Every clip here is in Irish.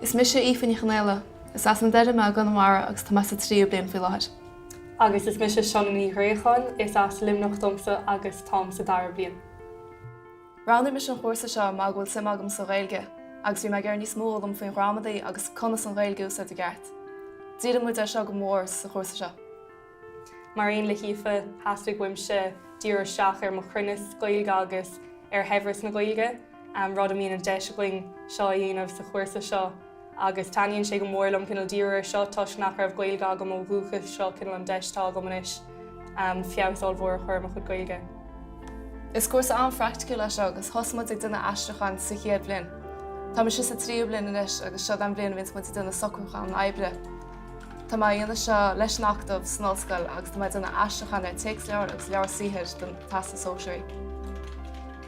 Is mise Aoife Ní Chonaola. Is as na Doireadha mé i gConamara agus tá mé sa tríú bliain faoi láthair. Agus is mise Sionnaigh Ní Ghréacháin, is as Luimneach domsa agus táim sa dara bliain. Roghnaigh mise an chúrsa seo mar go bhfuil suim agam sa Ghaeilge agus bhí mé ag iarraidh níos mó a fhoghlaim faoin ghramadaí agus conas an Ghaeilge a úsáid i gceart. Díríonn muid air seo go mór sa chúrsa seo. Mar aon le hAoife, theastaigh uaimse díriú isteach ar mo chruinneas Gaeilge agus ar shaibhreas na Gaeilge, rud a mbíonn an deis againn seo a dhéanamh sa chúrsa seo. Agus taitníonn sé go mór liom cineál díriú ar seo toisc nach raibh Gaeilge agam ó dhúchas, seo cineál an deis atá agam anois feabhas an-mhór a chur ar mo chuid Gaeilge. Is cúrsa an-phraicticiúil é seo agus thosaigh muid ag déanamh aistriúcháin sa chéad bhliain. Táimse sa tríú bliain anois agus seo an bhliain a bhíonns muid ag déanamh socrúcháin oibre. Tá mé ag déanamh seo leis an Acadamh san Ollscoil agus tá mé ag déanamh aistriúcháin ar téacsleabhair agus leabhair saothair don Teastas Sóisearach.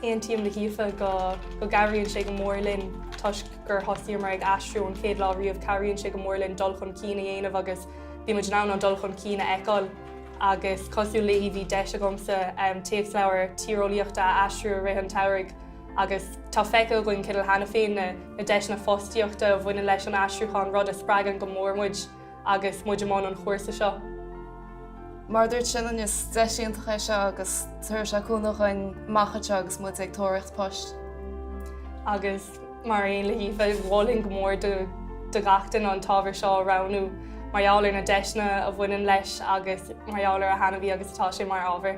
Aontaím le hAoife go go gcabhraíonn sé go mór linn toisc gur thosaíomar ag aistriú ón chéad lá riamh, cabhraíonn sé go mór linn dul chun cinn a dhéanamh agus bíonn muid in ann an dul chun cinn a fheiceáil agus cosúil léi bhí deis agamsa téacsleabhar tíreolaíochta a aistriú i rith an tsamhraidh agus tá feicthe againn cineál cheana féin na deiseanna fostaíochta a bhaineann leis an aistriúchán, rud a spreagann go mór muid agus muid i mbun an chúrsa seo. Mar a dúirt Sionnaigh is deis iontach é seo agus tabharfaidh sé cúnamh dhúinn amach anseo agus muid ag tóraíocht poist. Agus mar aon le hAoife, mholfainn go mór do gach duine an t-ábhar seo a roghnú mar gheall ar na deiseanna a bhaineann leis agus mar gheall ar a thaitneamhaí agus atá sé mar ábhar.